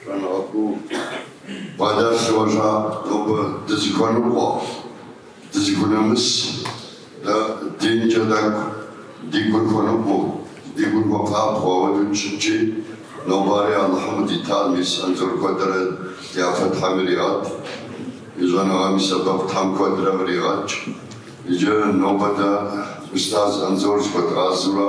Щӏэныгъэ куу къуадар сыгъуэжа нобэ дызыхуэныкъуэ, дызыхунэмыс, дэ динкӏэ тӏэкӏу ди гур хуэныкъуэу, ди гур хуэпабгъэу ауэдэу дыщытчи, нобари Алыхьым къыдитар мис Анзор куэдрэ дяпэ Тхьэм иригъэт, и щӏэныгъэм и сэбэп Тхьэм куэдрэ къригъэкӏ. Иджы нобэ дэ устаз Анзор зыхуэдгъазэурэ.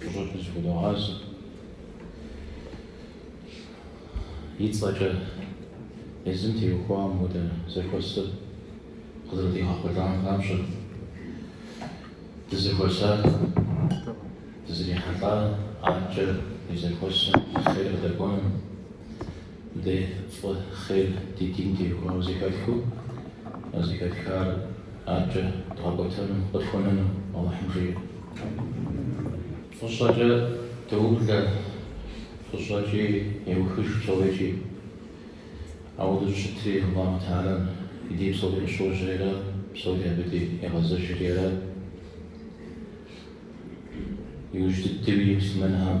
Фӏыщӏэкӏэ зыхудогъазэ. И цӏэкӏэ езым теухуа мыхуэдэ зэхуэсыр къызэрыдигъэхъулӏам папщӏэ, дызэхуэсар, дызэрихьэлӏар арткӏэ и зэхуэсым хъер къыдэкӏуэным, Дэ фӏы хъер ди дин теухуауэ зэхэтхыу, а зэхэтхар аркӏэ дгъэкӏуэтэну, къытхуэнэну Алыхьым жиӏэ. Фӏыщӏэкӏэ доублэ, фӏыщӏэкӏи еухыж псори. Ауэдэу щытри, Алыхьу Талям и дей псори къыщожьэри, псори абы дей егъэзэжри, иужь дыдэуи муслъымэнхэм.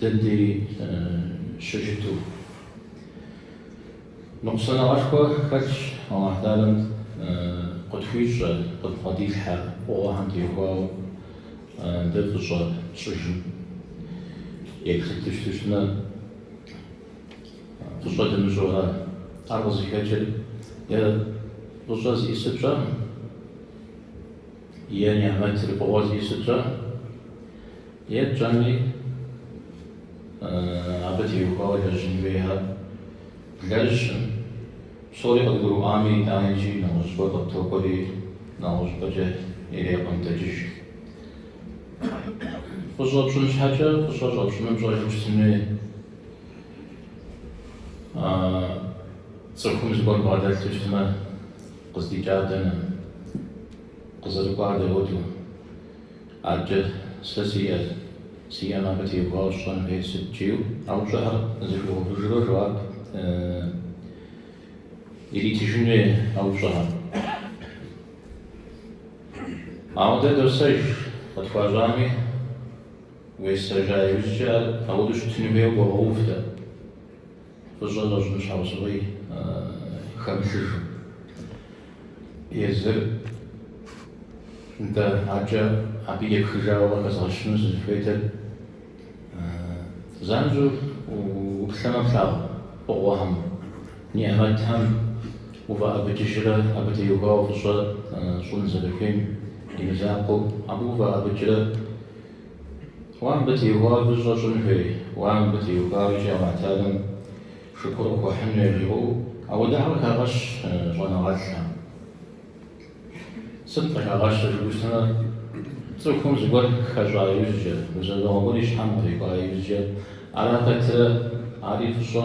Дэ дей щыщыту. Ныкъусаныгъэшхуэ хэлъщ Алахь Талям къытхуищӏэ, къыдбгъэдилъхьэ фӏыгъуэхэм теухуауэ дэ фӏыщӏэ тщӏыжым. Еплъыт дыщыту щытмэ, фӏыщӏэ дымыщӏурэ, ар къызыхэкӏыр е фӏыщӏэ зиӏысыр пщӏэркъым. Е нигъмэтыр фӏыгъуэ зиӏысыр тщӏэм, е тщӏэми абы теухуауэ лэжьын хуейхэр блэжьым, псори къыдгурыӏуами, итӏани икӏи нэгъуэщӏыпӏэ къыттокӏуэри, нэгъуэщӏыпӏэкӏэ иреӏуэнтӏэкӏыж. Фӏыщӏэ пщӏын щхьэкӏэ фӏыщӏэ щӏэпщӏыным пщӏэжу щытын хуей. Цӏыхум зыгуэр бгъэдэлъу щытмэ, Къыздикӏар дэнэ? Къызэрыкӏуар дауэду? Акӏэ, сэ сиӏэр, сиӏэм абы теухуауэ сщӏэн хуейр сыт жиӏэу. А упщӏэхэр зыхуигъэувыжурэ жэуап иритыжын хуей а упщӏэхэм. Ауэ дэ досэж, къытхуащӏами, уесэжа иужькӏэ ар ауэду щытыну хуейуэ къогъэув дэ. Фӏыщӏэ щӏэпщӏын щхьэусыгъуи хэмылъыжу. Езыр нтӏэ акӏэ абы епхыжауэ къыхэзгъэщыну сызыхуейтэр занщӏэу уплъэмэ плъагъу фӏыгъуэхэм, нигъмэтхэм уфӏэӏэбыкӏыжрэ абы теухуауэ фӏыщӏэ щӏын зэрыхуейм и мызакъуэу абы уфӏэӏэбыкӏрэ. Уэ мыбы теухуауэ фӏыщӏэ щӏын хуейуэ, мыбы теухуауэ икӏи Алыхьталэм шыкур къыхуэхьыну яжриӏэу ауэдэхэр къыхагъэщ щӏэныгъэлӏхэм. Сыт къыхагъэщыр жыхуиӏэмэ, цӏыхум зыгуэр хэщӏа иужькӏэ, гузэвэгъуэ гуэр и щхьэм кърикӏуа иужькӏэ, ара хэтырэ, ари фӏыщӏэ.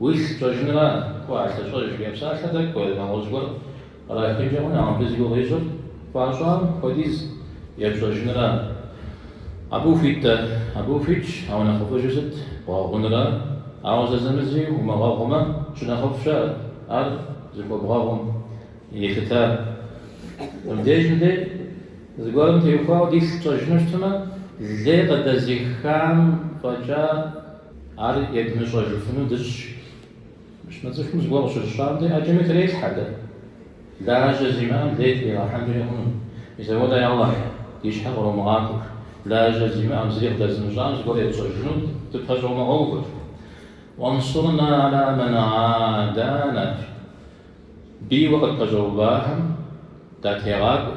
Уилъ пщӏэжынра, кӏуэ, а лъыщӏэж, жиӏэ псалъэр дэ кӏуэ, нэгъуэщӏ гуэр кърахынкӏэ хъуну, ауэ мыбы зи гугъу ищӏыр хуащӏам хуэдиз епщӏэжынра? Абы ухуит-тӏэ, абы ухуитщ, ауэ нэхъыфӏыжыр сыт, бгъэгъунра? Ауэ зэзэмызи умыгъэгъумэ, щынэхъыфӏщ ар, ар зыхуэбгъэгъум елъытар. Мыбдежым дэ зыгуэрым теухуауэ дилъ тщӏэжыну щытмэ, лей къыдэзихам фӏэкӏа, Ар едмыщӏэжыфыну дыщӏ. Мыщмэ цӏыхум зыгуэр къыщыщӏам де ӏэджэми трелъхьэ дэ. Лажьэ зимыӏэм лей тригъэхьэнкӏэ хъуну. Мис ауэдэ, я Алыхь, ди щхьэ къромыгъакӏуэр. Лажьэ зимыӏэм, зыри къыдэзымыщӏам зыгуэр етщӏэжыну дыпэщӏэумыгъэувыр. Уэнсурна ала мэн гӏадаанэ. Бийуэ къыдпэщӏэувахэм датегъакӏуэ.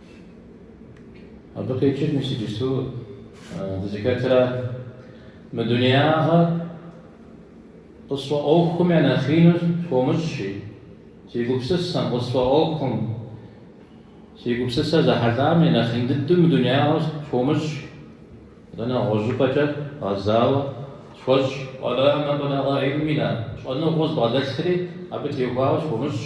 Абы къикӏыр мис иджыпсту дызыхэтра? Мы дунеягъэр къысфӏэӏуэхум я нэхъину схуомыщӏ, си гупсысэм, къысфӏэӏуэхум, си гупсысэр зэхьэлӏам я нэхъин дыдэу мы дунеягъэр схуомыщӏ, атӏэ нэгъуэщӏыпӏэкӏэ гъэзауэ схуэщӏ. Уэля мэблэгъэ гӏилминэ, щӏэныгъэу збгъэдэлъри, абы теухуауэ схуомыщӏ.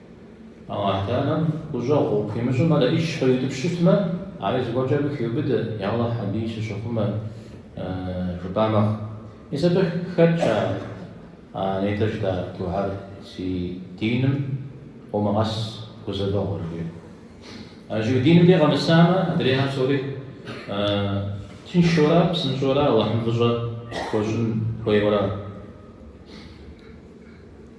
Алыхьталэм гущӏэгъу хуимыщӏым ар ӏищ къриутӏыпщ щытмэ, ари зыгуэркӏэ абы хиубыдэ, Я Алыхь, абыи сыщыхъумэ, жыпӏа мэхъу. Мис абы хэтщ а нетӏэ жытӏа духьэр, си диным къомыгъэс гузэвэгъуэр, жиӏэу. А иджы уи диным дей къэмысамэ, адрейхэр псори тыншэурэ, псынщӏэурэ, Алыхьым фӏыщӏэ хуэщӏын хуейуэрэ.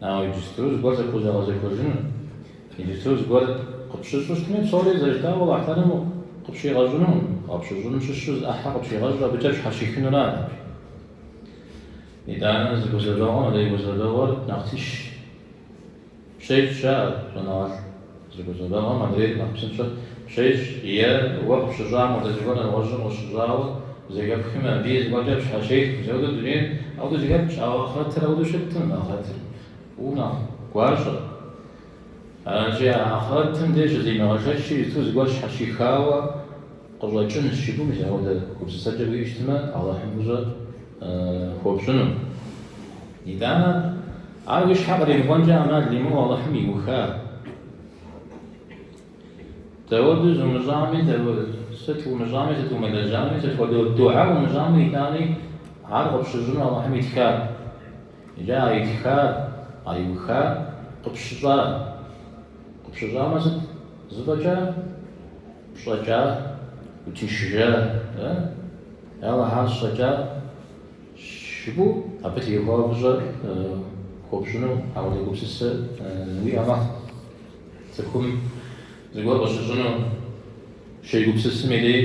Ауэ иджыпсту зыгуэр пхузэгъэзэхуэжыну, иджыпсту зыгуэр къыпщыщӏу щытми, псори зэрыжытӏауэ Алыхьталэм къыпщигъэщӏынукъым, къыпщыщӏынум щыщу зы ӏыхьэ къыпщигъэщӏу абыкӏэ пщхьэщихынура ар? Итӏанэ зы гузэвэгъуэм адрей гузэвэгъуэр нэхъ тынш пщещӏ, жаӏэрт щӏэныгъэлӏ. Зы гузэвэгъуэм адрейр нэхъ псынщӏэ пщещӏ, е уэ къыпщыщӏам хуэдэ зыгуэр нэгъуэщӏым къыщыщӏауэ зэхэпхми, абыи зыгуэркӏэ пщхьэщех. Мис ауэдэу дунейр ауэдэу зэхэпхщ, ауэ ахърэтыр ауэдэу щыткъым, ахърэтыр фӏыуэ нэхъ гуащӏэщ. Аращи, а ахърэтым де щызэримыгъэшэчри, зыту зыгуэр щхьэщихауэ къыщӏэкӏынщ жыпӏэу, мис ауэдэ гупсысэкӏэ уиӏэу щытмэ, Алыхьым фӏыщӏэ. хуопщӏыну. Итӏанэ, ар уи щхьэ къримыкӏуэнкӏэ ӏэмал имыӏэу Алыхьым иуха. Дауэду зумыщӏами, сыт умыщӏами, сыт умылэжьами, сыт хуэдэ духьэ умыщӏами, итӏани ар къыпщыщӏыну Алыхьым итхар. Иджы а итхар, а иухар къыпщыщӏа. Къыпщыщӏамэ сыт? Зыфӏэкӏа? Пщӏэкӏа? Утыншыжа? Ауэ ар щӏэкӏа щыгу абы теухуауэ фӏыщӏэр хуопщӏыну апхуэдэ гупсысэ уиӏэ мэхъу. Цӏыхум зыгуэр къыщыщӏыну щегупсысым дей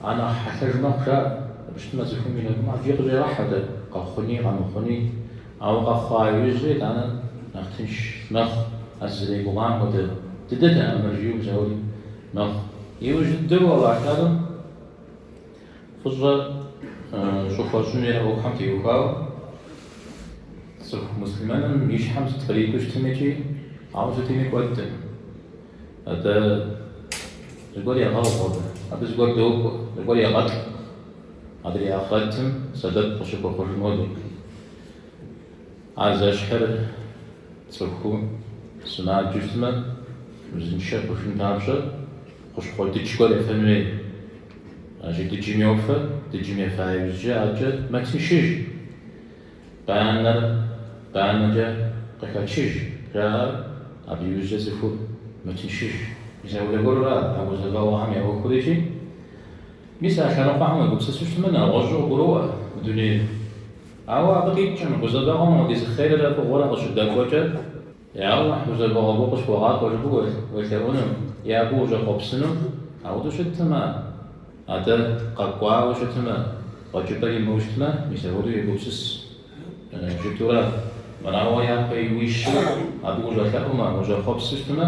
а нэхъ хьэлъэж мэхъу, жаӏэ. Абы щытмэ, цӏыхум и нэгум ӏэфӏи къыщӏегъэхьэ дэ, къэхъуни, къэмыхъуни. Ауэ къэхъуа иужьрэ итӏанэ нэхъ тынш мэхъу, а сызэригугъам хуэдэ дыдэтэкъым ар, жиӏэу псэури мэхъу. Иужь дыдэу Алыхьым фӏыщӏэ щӏыхуэщӏын хуей ӏуэхухэм теухуауэ цӏыху муслъымэным и щхьэм сыт кърикӏуэу щытми икӏи ауэ сытми кӏуэдкъым. Атӏэ зыгуэр егъэгъу абы, абы зыгуэр докӏуэ, зыгуэр егъэтӏ. Адрей ахърэтым сэбэп къыщыхуэхъужыну модей. Ар зэщхьыр цӏыхур сымаджэу щытмэ, узыншэ хъужын папщӏэ хущхъуэ дыдж гуэр ефэн хуей. Аращи дыджым йофэ, дыджым ефа иужькӏэ адкӏэ мэтыншыж, банэр банэкӏэ къыхачыж жаӏэ, абы иужькӏэ цӏыхур мэтыншыж. Ӏэзэгъуэ гуэру ара а гузэвэгъуэхэм я ӏуэхур икӏи? Мис а лъэныкъуэхэм уегупсысу щытмэ, нэгъуэщӏу къыбгуроӏуэ мы дунейр. Ауэ абы къикӏкъым, гузэвэгъуэм дей зы хъеррэ фӏыгъуэрэ къыщыдэкӏуэкӏэ, Я Алыхь, гузэвэгъуэ гугъу къысхуэгъакӏуэ жыпӏэу уелъэӏуну, е абы ущӏэхъуэпсыну? Апхуэдэу щыткъым, атӏэ, къэкӏуауэ щытмэ, хэкӏыпӏэ имыӏэу щытмэ, мис апхуэдэу егупсыс жытӏэу ара, мырауэ япэ уищмэ, абы ущӏэлъэӏумэ, ущӏэхъуэпсу щытмэ,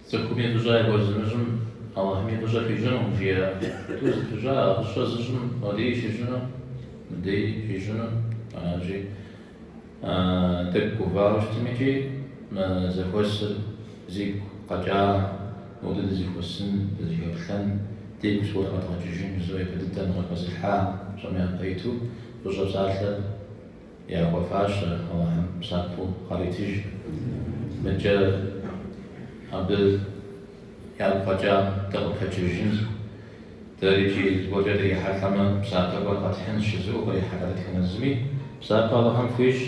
Цӏыхуми фӏыщӏэ яхуэзымыщӏым Алыхьми фӏыщӏэ хуищӏынукъым жиӏэ. Тӏур зэпыщӏа а фӏыщӏэ зыщӏым модей щищӏыну, мыдей щищӏыну аращи, тӏэкӏу гувауэ щытми икӏи мы зэхуэсыр зигу къэкӏа мыпхуэдэу дызыхуэсын, дызыхэплъэн, дигу зыгуэр къэдгъэкӏыжын жызыӏэу япэ дыдэу къыхэзылъхьа псом япэ иту фӏыщӏэ псалъэ Яхуэфащэщ Алыхьым псапэу къаритыж. Мыдкӏэ абы ягу къэкӏам дыкъыпэджэжынщ. Дэри икӏи зыгуэркӏэ дрихьэлӏэмэ, псапэ гуэр къэтхьынщ, жызыӏэу кърихьэлӏэ дэтхэнэ зыми. Псапэ Алыхьым хуищӏ,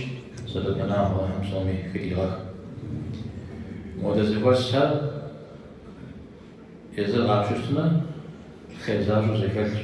сэбэпынагъ Алыхьым псоми хыдигъэх. Модэ зэхуэсхэр езыр къапщтэмэ, хъер защӏэу зэхэлъщ.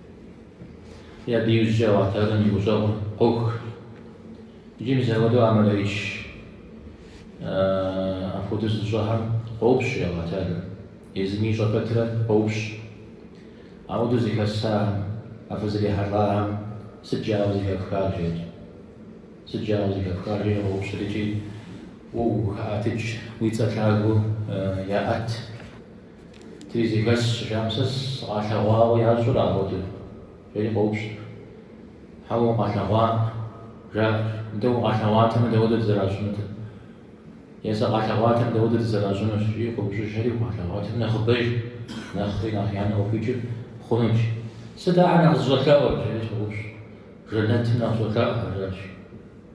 Абы иужькӏэ Алыхь Тэхьэлэм и гущӏэгъур къох. Иджы мис апхуэдэу амалэ итщ. Апхуэдэу зыщӏэхэм къоупщӏ Алыхь Тэхьэлэр. Езыми ищӏэ пэтрэ къоупщӏ. Ауэдэу зэхэсахэм, а фызрихьэлӏахэм сыт жаӏэу зэхэфхар, жери. Сыт жаӏэу зэхэфхар, жери къоупщӏыр икӏи уэ ухаӏэтыкӏ, уи цӏэ лъагэу яӏэт. Тыри зэхэсщ, жаӏэм сэ сыкъалъэгъуауэ ящӏэрэ апхуэдэу, жери къоупщӏ. Хьэуэ, укъалъэгъуакъым, жаӏэ. Нтӏэ, укъалъэгъуатэмэ, дауэдэу зэращӏынутэ. Е сыкъалъэгъуатэмэ, дауэдэу зэращӏынущ, жи къоупщӏыжри, укъалъэгъуатэмэ, нэхъыбэж, нэхъри нэхъ я нэ къыхуикӏыу хъунущ. Сыт ахэр нэхъ зыщӏэлъэӏур? жери щӏоупщӏ. Жэнэтым нэхъ щӏолъэӏу, жаӏащ.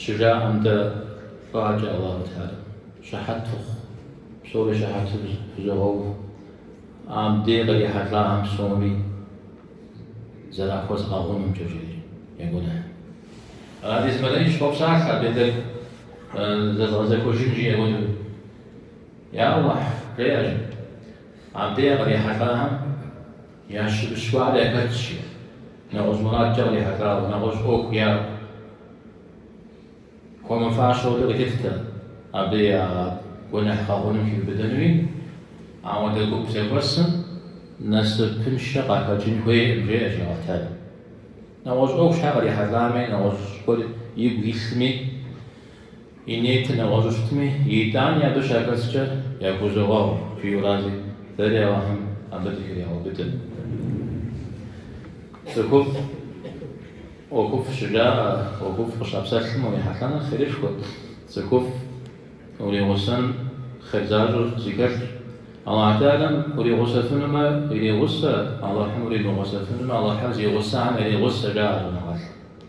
Щыжаӏэм дэ фӏакӏэ Аллаху Тэхьэлэм щыхьэт фыхъу, псори щыхьэту фызогъэув. Абдей къыдихьэлӏахэм псоми зэрахуэзгъэгъунумкӏэ, жери я гуэныхь. Абдей зы мелэӏыч къопсалъэ абдей тӏэкӏу зэзгъэзэхуэжын жиӏэ хуэдэу. Я Аллахь, жеӏэжым, абдей къыдихьэлӏахэм. Ящымыщ гуэр яхэтщи, нэгъуэщӏ мурадкӏэ кърихьэлӏауэ, нэгъуэщӏ ӏуэху яӏэу, хуэмыфащэу абы къыхэхутэм абы я гуэныхь гъэгъуным хиубыдэнури. Ауэдэ гуп зэхуэсым насыпыншэ къахэкӏын хуейкъым, жеӏэ Алыхь Тэхьэлэм. Нэгъуэщӏ ӏуэху щхьэ кърихьэлӏами, нэгъуэщӏ гуэр игу илъми, И ниет нэгъуэщӏу щытми, итӏани абы щахэскӏэ яхузогъэгъу жиӏэу аращи, дэри Алыхьым абы дыхригъэубыдэ. Цӏыхуфӏ ӏуэхуфӏ щыжаӏэ, ӏуэхуфӏ къыщапсэлъым урихьэлӏэныр хъерышхуэ, цӏыхуфӏ уригъусэн хъер защӏэ зыхэлъщ. Алыхь Тэхьэлэм уригъусэфынумэ, иригъусэ, Алыхьым уримыгъусэфынумэ, Алыхьыр зи гъусэхэм яригъусэ, жаӏэ щӏэныгъэлӏым.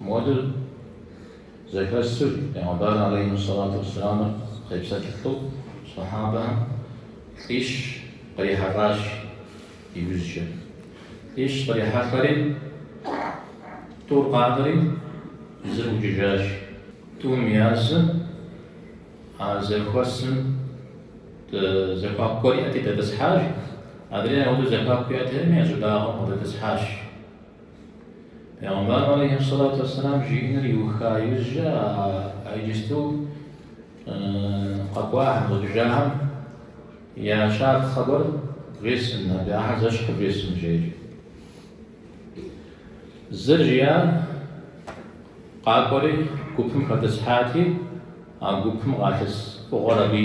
Модыр зэхэсыр Пейгъэмбар алейхьи ссалату уэсселамыр къепсэлъылӏэу сэхьабэхэм лӏищ кърихьэлӏащ иужькӏэ. Лӏищ кърихьэлӏэри, тӏур къакӏуэри, зыр ӏукӏыжащ. Тӏум язым а зэхуэсым зэхуаку гуэр иӏэти дэтӏысхьащ, адрейр ауэдэу зэхуаку иӏэтэкъыми я щӏыбагъым къыдэтӏысхьащ. Пегъэмбар алейхиссалату вассалам жиӏэныр иуха иужькӏэ а иджысту къэкӏуахэм, ӏукӏыжахэм я щапхъэ хъыбар вжесӏэн, абы ахьэр зэщхьыр вжесӏэн жери. Зыр, жиӏащ, къакӏуэри гупым хэтӏысхьати, а гупым къалъыс фӏыгъуэр абы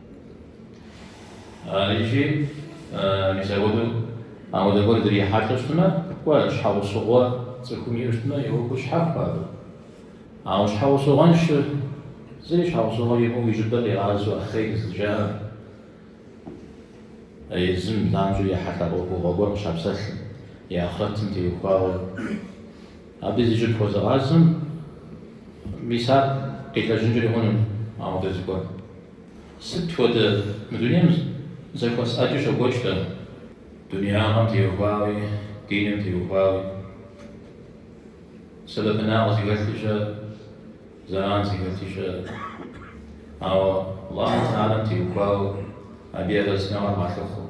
Икӏи мыпхуэдэу ауэдэ гуэр дрихьэлӏэу щытмэ, кӏуэ, щхьэгъусыгъуэ цӏыхум иӏэу щытмэ, и ӏуэху щхьэхуэщ абы. Ауэ щхьэгъусыгъуэншэр, зыри щхьэгъусыгъуэ имыӏэу и щӏыбыр къигъазэу Ахъей зыщӏэкӏам, езым занщӏэу ехьэлӏа ӏуэхугъуэ гуэр къыщапсэлъым, и ахърэтым теухуауэ. Абы зи щӏыб хуэзыгъазэм, мис ар къилэжьынкӏэри хъунут ауэдэ зыгуэр. Сыт хуэдэ мы дунейм зэхуэс ӏэджи щокӏуэкӏ дэ, дунеягъэм теухуауи, диным теухуауи, сэбэпынагъ зыхэлъи щыӏэ, зэран зыхэлъи щыӏэ, ауэ Аллахь Тэхьэлэм теухуауэ, абы и арэзыныгъэр къалъыхъуэу.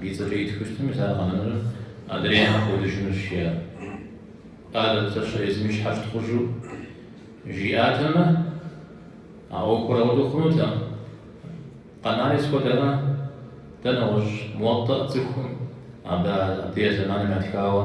Ди цӏэкӏэ итхыу щытмэ, мис ар къэнэнурэ адрейхэр кӏуэдыжынущ, жиӏат. Атӏэ езыр езым и щхьэ щытхъужу жиӏатэмэ, а ӏуэхур ауэдэу хъунутэкъым. Къэнари сыт хуэдэ, дэ нэгъуэщӏ Муэтӏэ цӏыхум, абы а ди а зэманым ятхауэ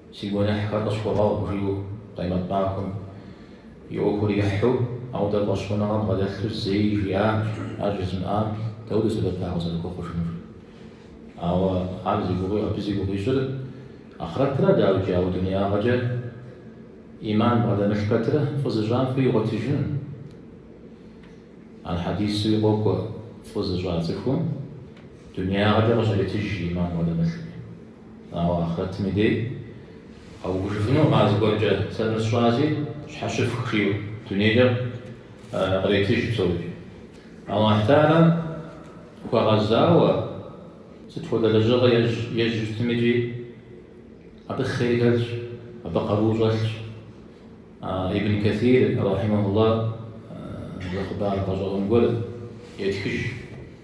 Си гуэныхьхэр къысхуэгъэгъу, жиӏэу Къемэт махуэм и ӏуэхур ехьу, ауэдэ фӏэщхъуныгъэ бгъэдэлъу зэи жиӏакъым, ар жызымыӏам дауэрэ сэбэп ар къызэрыхуэхъужынур? Ауэ ар зи гугъуи, абы зи гугъу ищӏыр ахърэтыра дауикӏи, ауэ дунеягъэкӏэ ӏиман бгъэдэмылъ пэтрэ фӏы зыщӏам фӏы игъуэтыжын. Ар хьэдисуи къокӏуэ, фӏы зыщӏа цӏыхум дунеягъэкӏэ къыщретыж ӏиман бгъэдэмылъми. Ауэ ахърэтым и дей къэувыжыфынукъым а зыгуэркӏэ, сэ мыр сщӏащи сщхьэщыфх жиӏэу дунейкӏэ къретыж псори. Аллахь Тэхьэлэм хуэгъэзауэ сыт хуэдэ лэжьыгъэ ищӏэу щытмикӏи абы хъер хэлъщ, абы къару щӏэлъщ. Ибн Кэсир, рахьимэхулла, зы хъыбар гъэщӏэгъуэн гуэр етхыж.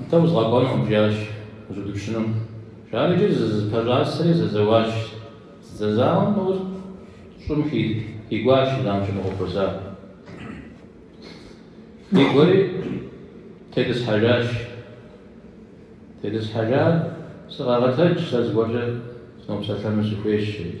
Нтӏэ, узгъэкӏуэнукъым, жиӏащ жыг пыупщӏыным. Жаӏэрэкӏэ зызэпэщӏасэри зэзэуащ. Зэзауэм нэужь щӏым хигуащ жиӏам щыфӏэхъуэпэсар. Хигуэри тетӏысхьэжащ. Тетӏысхьэжар, Сыкъэгъэтэдж, сэ зыгуэркӏэ сынопсэлъэну сыхуейщ, жери.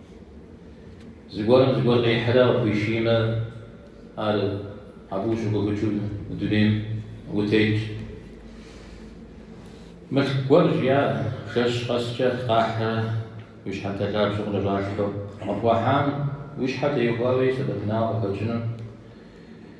Зыгуэрым зыгуэр къихьрэ къыхуишиймэ, ар абы ущыгуфӏыкӏыу мы дунейм утетщ. Мылъку гуэр жиӏащ жэщ къэскӏэ къахьрэ уи щхьэнтэ лъабжьэ къыщӏалъхьэу. Къыпхуахьам уи щхьэ теухуауи сэбэпынагъ къыхэкӏыну.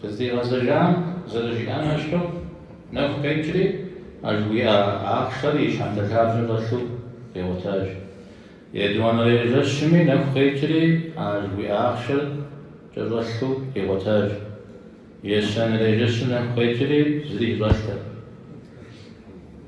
Къыздигъэзэжам зэрыжиӏам ещхьу, нэху къекӏри, а жыхуиӏа ахъшэр и щхьэнтэ лъабжьэм щӏэлъу къигъуэтащ. Етӏуанэрей жэщми нэху къекӏри, а жыхуиӏа ахъшэр кӏэщӏэлъу къигъуэтащ. Ещанэрей жэщым нэху къекӏри, зыри кӏэщӏэлътэкъым.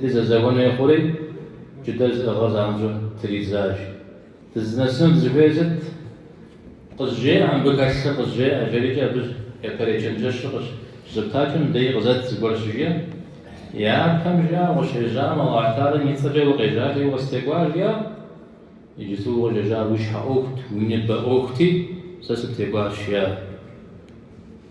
Ди зэзэуэн хуей хъури, джыдэр зыӏыгъыр занщӏэу тридзащ. Дызынэсыну дызыхуейр сыт? Къызжеӏэ мыбы хэлъыр, къызжеӏэ, жерикӏэ абы япэрей чэнджэщыр къыщызэптакӏэм дей къызэт зыгуэр щыжиӏэ. Япэм жиӏар укъыщежьам, Алыхь Тэхьэлэр и цӏэкӏэ укъежьати, укъыстекӏуар жиӏар. Иджыпсту укъыщежьар уи щхьэ ӏуэхут, уи ныбэ ӏуэхути, сэ сыптекӏуащ жиӏар.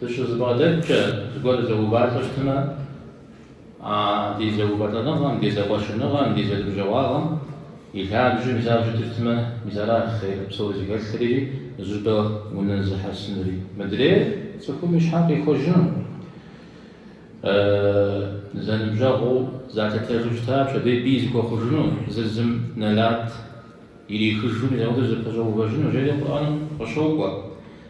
Дыщызэбгъэдэткӏэ зыгуэр зэувалӏэу щытмэ, а ди зэувэлӏэныгъэм, ди зэкъуэщыныгъэм, ди зэныбжьэгъуагъэм и лъабжьэм исауэ щытыфтмэ, мис аращ хъер псори зыхэлъри, зыщӏыпӏэ унэзыхьэсынри. Мыдрейр цӏыхум и щхьэр къихуэжыну, зэныбжьэгъуу залъытэжу щыта пщэдей бий зыхуэхъужыну, зыр зым нэлат ирихыжу мис апхуэдэу зэпэщӏэувэжыну, жери Къурӏэным къыщокӏуэ.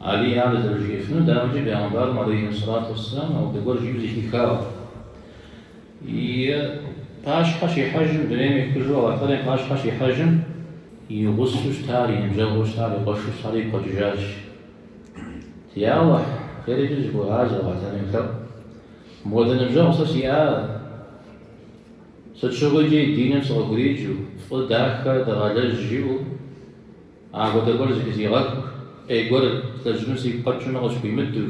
Алий ар зэрыжиӏэфынур дауэмикӏ пегъэмбарым алейхьиссалату уассалам ауэдэ гуэр жиӏэу зэхихауэ и пащхьэ щихьэжым дунейм ехыжу Алыхь Тэхьэлэм и пащхьэ щихьэжым и гъусэу щытар, и ныбжьэгъуу щытар, и къуэшу щытар игу къэкӏыжащ. Я Аллахь, жери икӏи зыхуегъазэ Алыхь Тэхьэлэм, йолъэӏу. Мыпхуэдэ ныбжьэгъу сэ сиӏар, сыт щыгъуи икӏи диным сыкъыхуриджу, фӏы дахэ дыгъэлэжь жиӏэу, Апхуэдэ гуэр зыхызигъэхыу, ӏей гуэр злэжьыну сигу къэкӏыну къысхуимыдэу.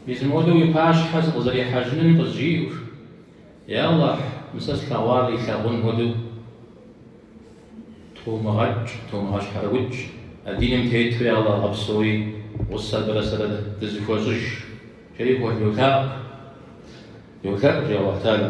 Мис мыуэдэу уи пащхьэ сыкъызэрихьэжынуи къызжиӏэу. Я Аллахь, мы сэ слъэгъуар илъагъун хуэдэу тумыгъэкӏ, тумыгъэщхьэрыукӏ, а диным тету я Аллахь гъэпсэуи гъусэ абырэ сэрэ дызыхуэщӏыж, жери тхьэ йолъэӏу, йолъэӏу жи Аллахь Тэхьэлэ.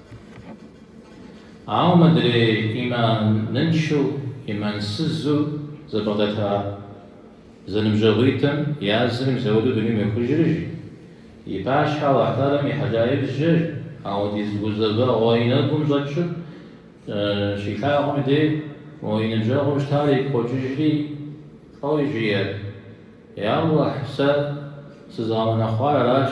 Ауэ мыдрей ӏиманыншэу, ӏимансызу зэбгъэдэта зэныбжьэгъуитӏым языр мис ауэдэу дунейм йохыжри, жи, и пащхьэ Алыхь Тэхьэлэм ихьэжа иужькӏэ ауэдиз гузэвэгъуэ и нэгум щӏэкӏыу щилъагъум и дей уэ и ныбжьэгъуу щытар игу къокӏыжри, фӏэуи жиӏэр, Я Алыхь, сэ сызгъэунэхъуар аращ.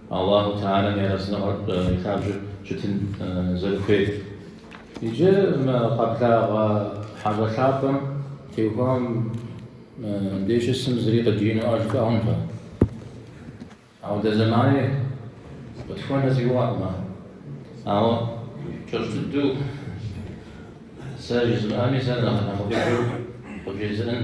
Аллахьу Тэхьэлам и арэзыныгъэр и лъабжьэу щытын зэрыхуейр. Иджы мы къэблагъэ хьэщӏэ лъапӏэм теухуам дей щысым зыри къыдиину ӏэж хуэӏункъым. Ауэ дэ зэмани къытхуэнэ си гугъэкъым ар. Ауэ кӏэщӏ дыдэу сэ жызмыӏэми, сэ нэхъ нэхъыфӏыжу къывжезыӏэн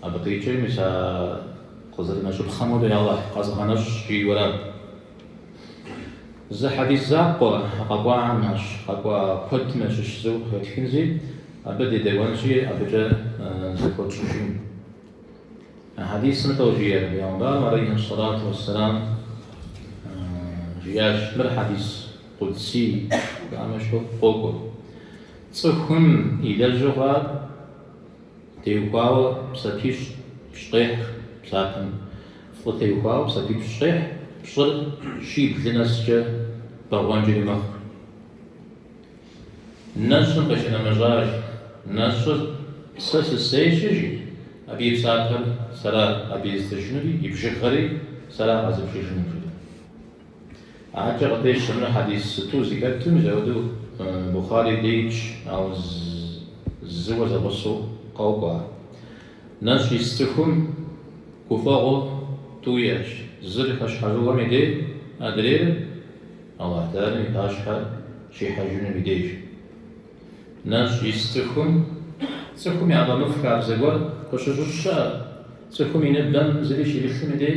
Абы къикӏи, мис а къызэрынэщӏыпхъэм хуэдэу Алыхь къэзгъэнэщӏщ, жи уэрат. Зы хьэдис закъуэ къэкӏуахэм ящыщ, къэкӏуа куэдым ящыщ зыу къыхэтхынзи, абы дедэӏуэнщи, абыкӏэ зэхуэтщӏыжын. А хьэдисым иту жиӏэр, пэйгъэмбарым алейхьи сэлату уэсселам жиӏащ, мыр хьэдис къудсий жаӏэм ящыщу къокӏуэ. Цӏыхум и лэжьыгъэр Теухуауэ псапипщӏ къехь псапэм. Фӏы теухуауэ псапипщӏ къехь, пщӏыр щиблым нэскӏэ бэгъуэнкӏэри мэхъу. Нэщӏым къыщынэмыщӏащ. Нэщӏыр сэ сысейщи, жи, абы и псапэр сэра абы езытыжынури, и бжыгъэри сэра къэзыбжыжынур, жи. Адэкӏэ къыпещэ мыр хьэдис сыту зи хэтым, мызэӏуэду Бухъари деидж, ауэ зыуэ зэгъусэу къокӏуэ. Нэщӏ ис цӏыхум гуфӏэгъуэ тӏу иӏэщ, зыр хэщхьэжыгъуэм и дей, адрейр Аллахь Тэхьэлам и пащхьэ щихьэжынум и деж. Нэщӏ ис цӏыхум, цӏыхум яфӏэмыфӏ хабзэ гуэр къыщыщыщӏ щыӏэ, цӏыхум и ныбэм зыри щимылъым и дей,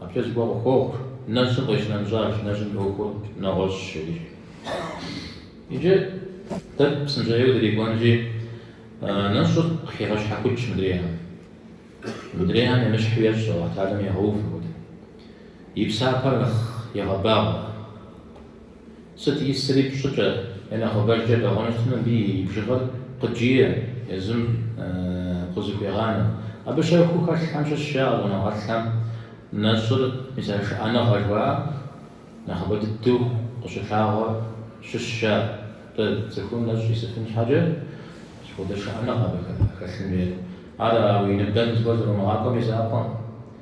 Абыкӏэ зыгуэр къыхуохъу, нэщӏым къыщынэмыщӏащ, нэщӏым и ӏуэхур нэгъуэщӏщ, жи. Иджы дэ псынщӏэжьейуэ дырикӏуэнщи, нэщӏыр къыхигъэщхьэхукӏ мыдрейхэм. Мыдрейхэм емыщхьу ещӏ Хьэкъ Тэхьэлам, егъэув апхуэдэу. И псапэр нэхъ егъэбагъуэ. Сыт исри пщӏыкӏэ е нэхъыбэжкӏэ бэгъуэну щытмэ, мыбы и бжыгъэр къыджие, езым къызыхуегъанэ. Абы щэхуу хэлъхэм щыщ жаӏэ щӏэныгъэлӏхэм нэщӏыр мис а шыӏэныгъэ жыхуаӏэм нэхъыбэ дыдэу къыщылъагъуэр щыщ жаӏэ. Атӏэ цӏыхум нэщӏ исыфын щхьэкӏэ сыт хуэдэ шыӏэныгъэ абы хэлъын хуейр. Ар уи ныбэм зыгуэр зэрумыгъакӏуэм и закъуэкъым.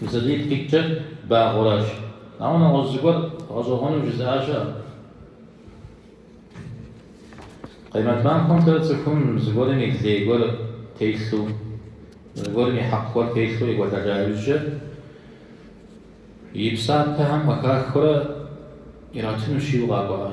Мисалий ткӏитӏкӏэ багъуэращ. Ауэ нэгъуэщӏ зыгуэр гъэщӏэгъуэну жызыӏа щыӏэщ. Къемэт махуэмкӏэ цӏыхум зыгуэрым и лей гуэр телъу, зыгуэрым и хьэкъ гуэр телъу екӏуэлӏэжа иужькӏэ, и псапэхэм къыхахыурэ иратынущ жиӏэу къакӏуэкъэ?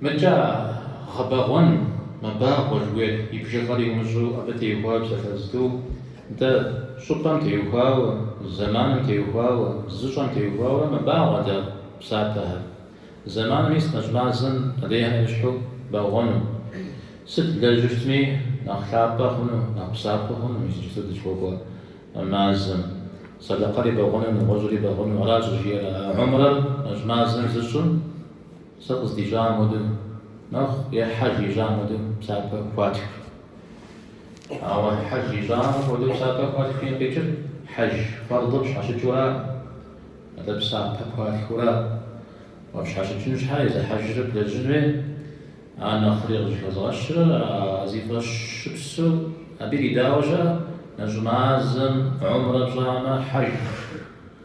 Мыбыкӏэ гъэбэгъуэн мэбагъуэ жыхуиӏэр и бжыгъэр умыщӏэу абы теухуауэ псалъэзту, дэ щӏыпӏэм теухуауэ, зэманым теухуауэ, зыщӏэм теухуауэрэ мэбагъуэ дэ псапэхэр. Зэманым мис нэщӏ мазэм къыдехьэ ещхьу бэгъуэну. Сыт блэжьу щытми нэхъ лъапӏэ хъуну, нэхъ псапэ хъуну иджыпсту дызыхуэкӏуэ мазэм. Сэдэкъэри бэгъуэну, нэгъуэщӏри бэгъуэну, аращ жиӏэрэ а гьумрэр нэщӏ мазэм зыщӏым. Сэ къыздищӏам хуэдэу нэхъ е Хьэж ищӏам хуэдэу псапэ хуатх. Ауэ Хьэж ищӏам хуэдэу псапэ хуатхым къикӏыр Хьэж фэрдыр пщхьэщыкӏыура? Атӏэ псапэ пхуатхыура уэ пщхьэщыкӏын щхьэ езы Хьэжыр блэжьын хуей ар нэхъри къыщӏыхэзгъэщыр а зи фӏэщыпсу абы иридауэ щыӏэ, нэщӏ мазэм гьумрэ пщӏамэ Хьэж.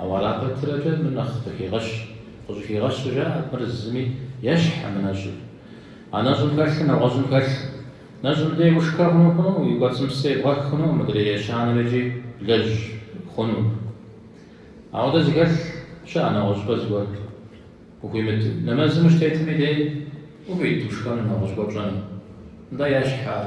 Ауэ ара пэтрэкӏэ мыр нэхъ къыхигъэщ. Къыщӏыхигъэщу жаӏэ, мыр зыми ещхькъым нэщӏыр. А нэщӏым хэлъыр нэгъуэщӏым хэлъкъым. Нэщӏым дей ушхэ хъуну хъунукъым, уи кӏуэцӏым псы ебгъэх хъунукъым, мыдрей ещанэр икӏи блэжь хъунукъым. Апхуэдэ зыхэлъ щыӏэ нэгъуэщӏыпӏэ зыгуэр. Ухуимыт, нэмэзым ущытетми дей ухуит ушхэну, нэгъуэщӏ гуэр пщӏэну. Нтӏэ ещхьэ ар.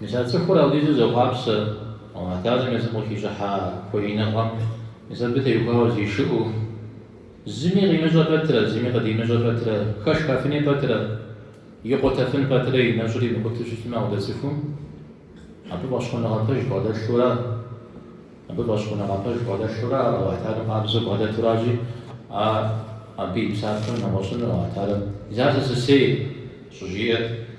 Мис а цӏыхур апхуэдизу зэхъуапсэ, Алыхьу тэгьалэм езым къыхищӏыхьа хуэиныгъэм, мис абы теухуауэ зишыӏэу, зыми къимыщӏэ пэтрэ, зыми къыдимыщӏэ пэтрэ, хэшхэфыну пэтрэ, икъутэфыну пэтрэ и нэщӏыр имыкъутэу щытмэ апхуэдэ цӏыхум, абы фӏэщхъуныгъэ пэж бгъэдэлъурэ, абы фӏэщхъуныгъэ пэж бгъэдэлъурэ ар Алыхьу тэгьалэм къабзэу бгъэдэтуращи, а абы и псапэр нэгъуэщӏыну Алыхьу тэгьалэм, Ар сэ сысейщ! щӏыжиӏэр.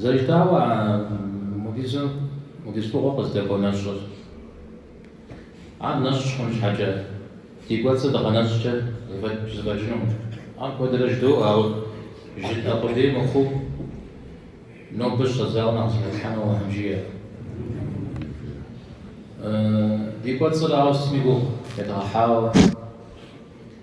Зэрыжытауэ, апхуэдиз фӏыгъуэ къыздэкӏуэ нэщӏыр. Ар нэщӏ хъун щхьэкӏэ, ди кӏуэцӏыр дыгъэнэщӏкӏэ зэфӏэкӏынукъым. Ар куэдрэ жыдоӏуэ, ауэ жытӏэ къудей мыхъуу, нобэ щӏэдзауэ нэхъ зыхэтлъхьэну Алыхьым жиӏэ. Ди кӏуэцӏыр, ауэ сытми гугъу едгъэхьауэ.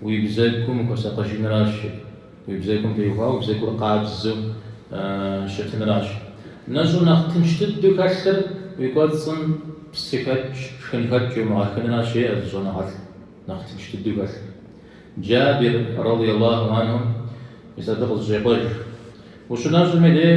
Уи бзэгум ухуэсакъыжынращ, уи бзэгум теухуауэ уи бзэгур къабзэу щытынращ. Нэщӏу нэхъ тынш дыдэу хэлъыр уи кӏуэцӏым псыхэкӏ, шхынхэкӏ еумыгъэхынращ, жеӏэ зы щӏэныгъэлӏ нэхъ тынш дыдэу хэлъыр. Джабир, радий Аллаху анху, мис абы къызэщӏекъуэж, Ущынэщӏым и дей?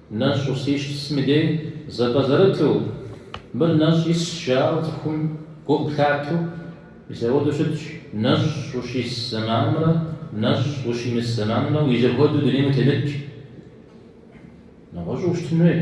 Нэщӏ ущисым и дей зэпӏэзэрыту, мыр нэщӏ исщ жаӏэу цӏыхум гу къыплъатэу, мис апхуэдэу щытщ нэщӏ ущис зэманымрэ нэщӏ ущимыс зэманымрэ зэхуэдэу дунейм утемыт. Нэгъуэщӏу ущытын хуейщ.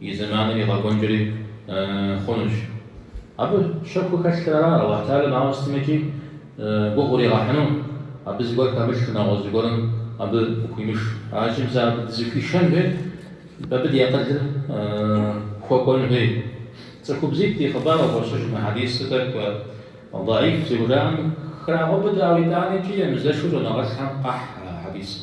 И зэманыр игъэкӏуэнкӏэри хъунущ. Абы щэхуу хэлъхэр ара Алыхь Тхьэлэм ауэ сытми икӏи гугъу уригъэхьыну? Абы зыгуэр хэмылъу, нэгъуэщӏ зыгуэрым абы къыхуимыш. Аращи, мис абы дызыхуишэн хуейт, абы ди акъылыр хуэкӏуэн хуейт. Цӏыхубзитӏ и хъыбар къыхощыж мы хьэдисыр, тӏэкӏу дӏэиф зыхужаӏэм храгъэубыдэ, ауэ итӏани икӏи емызэшу щӏэныгъэлӏхэм къахь а хьэдисыр.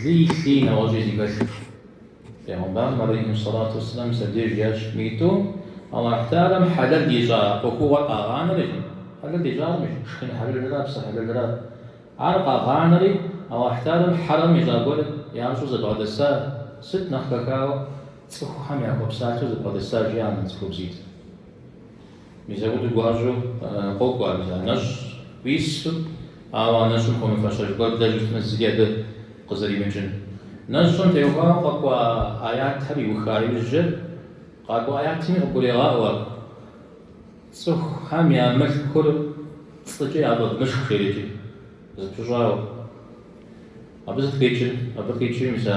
Лыи лъыи нэгъуэщӏи зыхэлъырщ. Пейгъэмбарым алейхи сэлату вассалам абдеж жиӏащ: мы тӏум Аллахь Тхьэлэм хьэлэл ищӏа ӏуэхугъуэр къагъанэри, хьэлэл ищӏар, мис шхын хьэлэлрэ псы хьэлэлрэ. Ар къагъанэри, Аллахь Тхьэлэм хьэрэм ищӏа гуэр ящӏу зэбгъэдэса, сыт нэхъ хэхауэ цӏыхухэм яхуэпсалъэу зэбгъэдэса, жи, а цӏыхубзитӏ. Мис апхуэдэу гуащӏэу къокӏуэ мис а нэщӏ уису, ауэ нэщӏым хуэмыфэщэж гуэр блэжьу щытмэ, зыри абы къызэримыкӏын. Нэщӏым теухуауэ къэкӏуа аятхэр иуха иужькӏэ, къакӏуэ аятми къыбгурегъаӏуэ ар. Цӏыхухэм я мылъкур пцӏыкӏэ яфӏэвмышх жери, икӏи зэпыщӏауэ. Абы сыт къикӏыр? Абы къикӏыр, мис а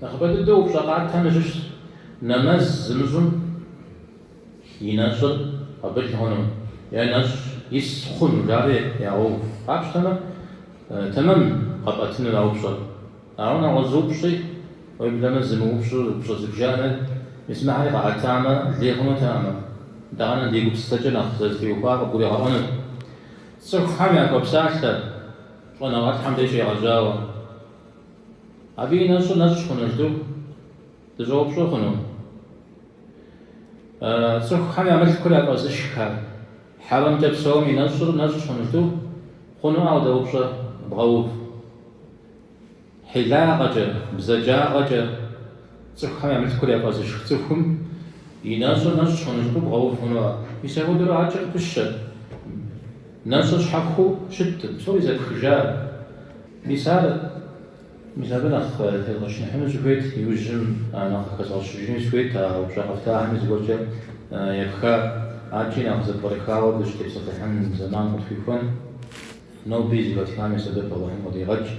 Нэхъыбэ дыдэу упщӏэ къатхэм ящыщщ нэмэз зымыщӏым и нэщӏыр къабыл хъуну е нэщӏ ис хъуну жари ягъэув. Къапщтэмэ, тэмэм къэпӏэтынур а упщӏэр. Ауэ нэгъуэщӏ зы упщӏи, уеблэмэ зымыупщӏу упщӏэ зыбжанэ, мис мыхьэри къаӏэтамэ, лей хъунутэкъым. Итӏанэ ди гупсысэкӏэ нэхъ зытеухуар къыбгуригъэӏуэнут. Цӏыхухэм яхуэпсалъэ щӏэныгъэлӏхэм деж щегъэжьауэ. Абы и нэщӏыр нэщӏ хъуну жытӏэу дыщӏэупщӏэ хъуну? Цӏыхухьэм я мылъкур яфӏэзышх, хьэрэмкӏэ псэум и нэщӏыр нэщӏ хъуну жытӏэу? Хъунуӏэ апхуэдэ упщӏэ бгъэув? Хьилагъэкӏэ, бзаджагъэкӏэ цӏыхухьэм я мылъкур яфӏэзышх цӏыхум и нэщӏыр нэщӏ хъуну жытӏэу бгъэув хъунуӏэ? Мис апхуэдэурэ адэкӏэ къыпыщэ. Нэщӏыр щхьэхуэу щыткъым, псори зэпхыжар. Мис ар мис абы нэхъ тезгъэчыныхьыну сыхуейт, иужьым нэхъ къыхэзгъэщыжыни сыхуейт, а упщӏэ къэфтахэми зыгуэркӏэ епха, адэкӏи нэхъ зэпкърыхауэ дыщытепсэлъыхьын зэман къытхуихуэн. Ноби зэхэтхам и сэбэп Алыхьым къыдигъэкӏ.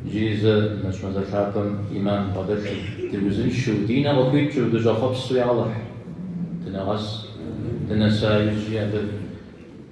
Иджыри зэ нэщӏ мазэ лъапӏэм ӏиман дбгъэдэлъу, дыузыншэу, ди нэ къыхуикӏыу, дыщӏэхъуэпсу я Алыхь, дынэгъэс, дынэса иужьи абы.